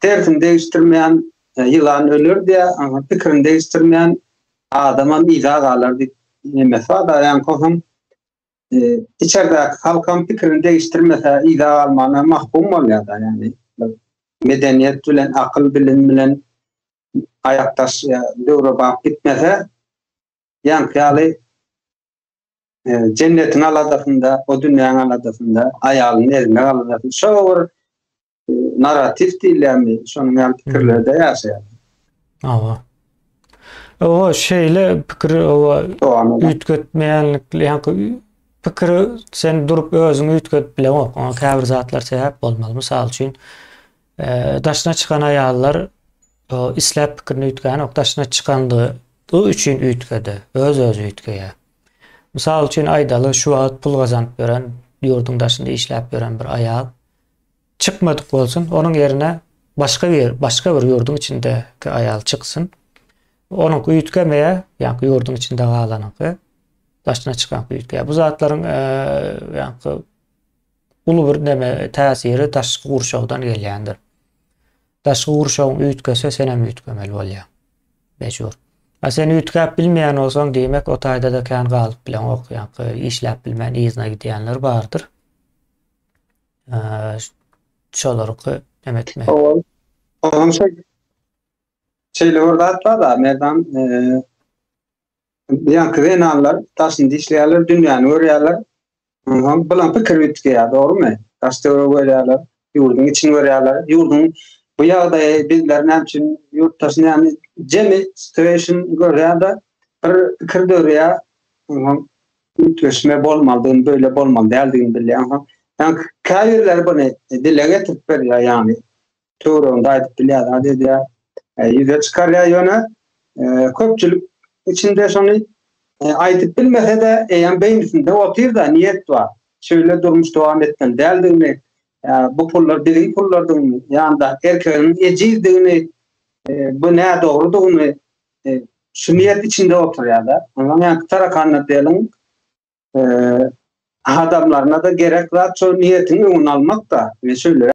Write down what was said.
tersini degişdirmeýän ýylan öler diýä, pikirini degişdirmeýän adamam yza galar diýip nemesi bar da ýaňky onuň içerdäki halkam pikirini degişdirmese yza galmana mahkum bolýar da ýagny medeniýet bilen akyl bilim bilen aýakdaş döwrebap gitmese ýaňky ýaly jennetiň aladasynda, o dünýäň aladasynda, aýalynyň egne aladasynda şo bir e, narrativ diýilýärmi, şonuň ýaly pikirlerde hmm. ýaşaýar. Awa. Owa şeýle pikir owa üýtgetmeýänlik, ýa-ni pikir sen durup özüňi üýtgedip bileňok. Oňa käbir zatlar sebäp bolmaly. Mysal üçin, Daşyna çykan aýallar isläp pikirini üýtgänok, daşyna çykandygy üçin üýtgedi, öz-özi üýtgeýär. Mysal üçin aýdaly, şu wagt pul gazanyp ýören, ýurduň daşynda işläp ýören bir aýal çykmadyk bolsun, onuň ýerine başga bir, başga bir ýurduň içindäki aýal çyksyn. Onuňky üýtgemeýär, ýaňky ýurduň içinde galanyňky, daşyna çykanky üýtgeýär. Bu zatlaryň ýaňky Uly bir näme, täsiri daşky gurşawdan gelýändir. Daşky gurşawyň üýtgese, senem üýtgemeli bolýaň. Mejbur. A sen üýtgäp bilmeýän bolsaň, diýmek, o taýda-da kän galyp bileňok. Ýaňky işläp bilmän yzyna gidýänler bardyr. Şolarky näme etme. Ol. Onuň şeý. Şeýle bir zat bar-da, Merdan, eee, ýaňky zenanlar daşynda işleýärler, dünýäni görýärler. Ynsan bilen pikir üýtgeýär, dogrumy? Daş-töwregi görýärler, ýurduň içini görýärler. Ýurduň bu ýagdaýy bizler näme üçin, ýurtdaş näme, jemi situation görýär-de, bir pikir döreýär, ynsan üýtgeşme bolmalydygyny, beýle bolmaly däldigini bilýär. Ynsan, ýagny käbirleri buny dile getirip berýär, ýagny töwereginde aýdyp bilýär zat edýär e, ýüze çykarýar ýöne e, köpçülik içinde şony e, aýdyp bilmese de eýýäm beýnisinde otyrda niýet bar şeýle durmuş dowam etmeli däldigini bu pullar biziň pullardygyny ýa-da erkegiň ejizdigini bu nädogrudygyny şu niýet içinde oturýar-da. Ondan ýa tarakanda deliň adamlaryna da gerek zat şol niýetiň öňüni almak da. Men şeýle